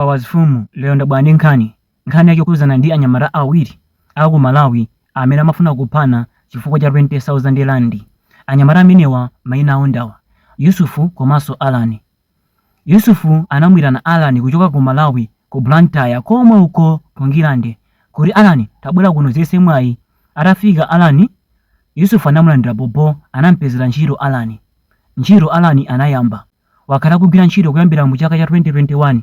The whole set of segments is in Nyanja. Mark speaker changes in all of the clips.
Speaker 1: Powers Fumu, lero ndabwera ndi nkhani. Nkhani yake ikukhudzana ndi anyamata awiri a ku Malawi amene amafuna kuphana chifukwa cha 20,000 rand. Anyamata amenewa mayina awo ndi awa, Yusufu komanso Allan. Yusufu anamuitana Allan kuchoka ku Malawi ku Blantyre komwe uko ku Ndirande kuti, Allan, tabwera kuno udziyese mwayi. Atafika Allan, Yusufu anamulandira bho bho, anamupezera ntchito Allan. Ntchito Allan anayamba. Wakhala akugwira ntchito kuyambira mu chaka cha 2021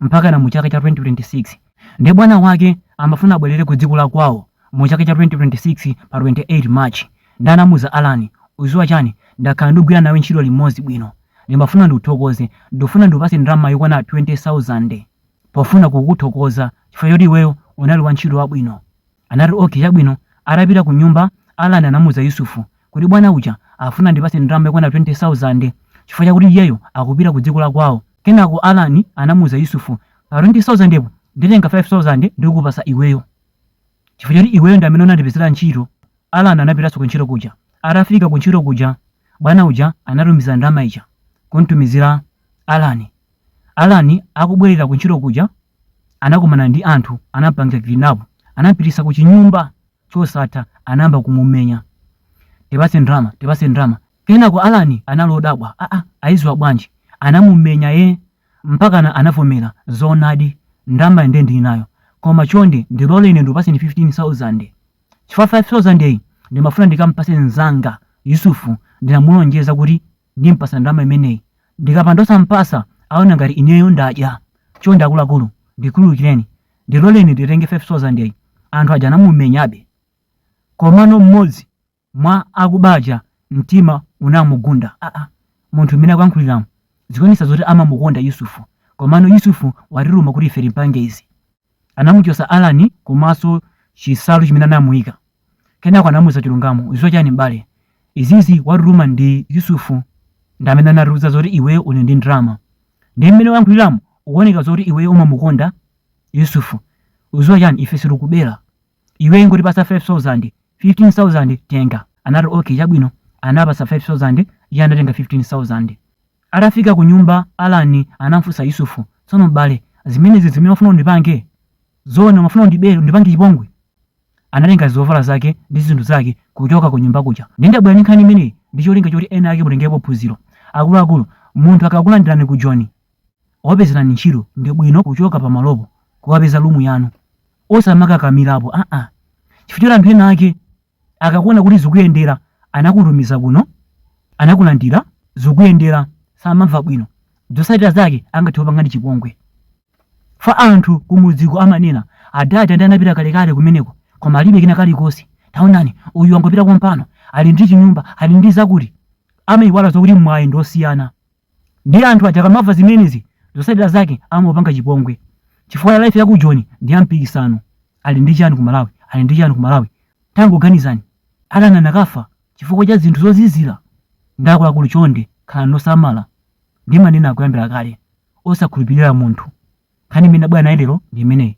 Speaker 1: mpakana mu chaka cha 2026 nde bwana wake amafuna abwerere ku dziko la kwawo mu chaka cha 2026 pa 28 March nde anamuuza Allan uziwa chani ndakhala ndikugwira nawe ntchito limodzi bwino ndimafuna ndikuthokoze ndikufuna ndikupase ndalama yokwana 20,000 pofuna kukuthokoza chifukwa choti iweyo unali wa ntchito wabwino Anati, Ok, chabwino. Atapita kunyumba, Allan anamuza Yusuf kuti bwana uja afuna andipatse ndalama yokwana 20,000 chifukwa chakuti iyeyo akupita kudziko la kwawo. Kenako Allan anamuza Yusuf, Pa 20,000 po, nditenga 5,000 ndikupatsa iweyo. Chifukwa choti iweyo ndi amene unandipezera ntchito. Allan anapitanso kuntchito kuja. Atafika kuntchito kuja, bwana uja anatumiza ndalama ija kumtumizira Allan. Allan akubwerera kuntchito kuja, anakumana ndi anthu anampanga kidnap anampitisa ku chinyumba chosatha anayamba kumumenya tipase ndrama tipase ndrama kenako alani anali wodabwa aa ayiziwa bwanji anamumenya be mpakana anavomera zoonadi ndrama nde ndili nayo koma chonde ndilole ine ndikupaseni 15000 chifukwa 5000 iyi ndimafuna ndikampase mzanga yusufu ndinamulonjeza kuti Ndimpasa ndalama imeneyi. Ndikapanda osampasa aona ngati ineyo ndadya. Chonde akuluakulu ndikhululukireni. Ndiloleni nditenge 5,000 yi. Anthu aja anamumenyabe. Komano mmodzi mwa akuba aja mtima unamugunda. Aa! Munthu mmene akuyankhuliramu zikuonetsa zoti amamukonda Yusuf. Komano Yusuf watituma kuti ife timpange izi. Anamuchotsa Allan komanso chinsalu chimene anamuika. Kenako anamuuza chilungamo. Udziwa chani m'bale? Izizi watutuma ndi Yusuf ndi amene anatiuza zoti iweyo uli ndi ndalama. Ndiye mmene wayankhuliramu ukuoneka zoti iweyo umamukonda Yusuf. Udziwa chani? Ife sitikubera. Iwe ingotipatsa 5000, 15000 tenga. Anati, Ok, chabwino. Anawapatsa 5000, iye anatenga 15000. Atafika kunyumba, Allan anamfunsa Yusuf, Tsono m'bale, zimenezi zimene umafuna undipange? Zoona umafuna undibere, undipange chipongwe? Anatenga zovala zake ndi zinthu zake kuchoka kunyumba kuja. Ndiye ndabwera ndi nkhani imeneyi ndi cholinga choti ena ake mutengerepo phunziro. Akuluakulu, munthu akakulandirani ku Joni, wapezerani ntchito ndibwino kuchoka pamalopo kuwapeza lumu yanu osamakakamirapo aa chifukwa choti anthu ena ake akakuona kuti zikuyendera anakutumizira kuno anakulandira zikuyendera samamva bwino zotsatira zake angathe kukupangani chipongwe fa anthu kumudziko amanena adati ndi anapita kalekale kumeneko koma alibe kena kalikonse taonani uyu wangopita kompano ali ndi chinyumba ali ndi zakuti amayiwala zokuti mwayi ndi osiyana Ndiye anthu aja akamamva zimenezi zotsatira zake amapanga chipongwe chifukwa life ya ku Joni ndi ya mpikisano. Ali ndi chani ku Malawi? Ali ndi chani ku Malawi? Tangoganizani, Allan anakafa chifukwa cha zinthu zozizira? Nde akuluakulu chonde khalani losamala. Ndimanena kuyambira kale, osakhulupirira munthu. Nkhani imene ndabwera nayo lero ndi imeneyi.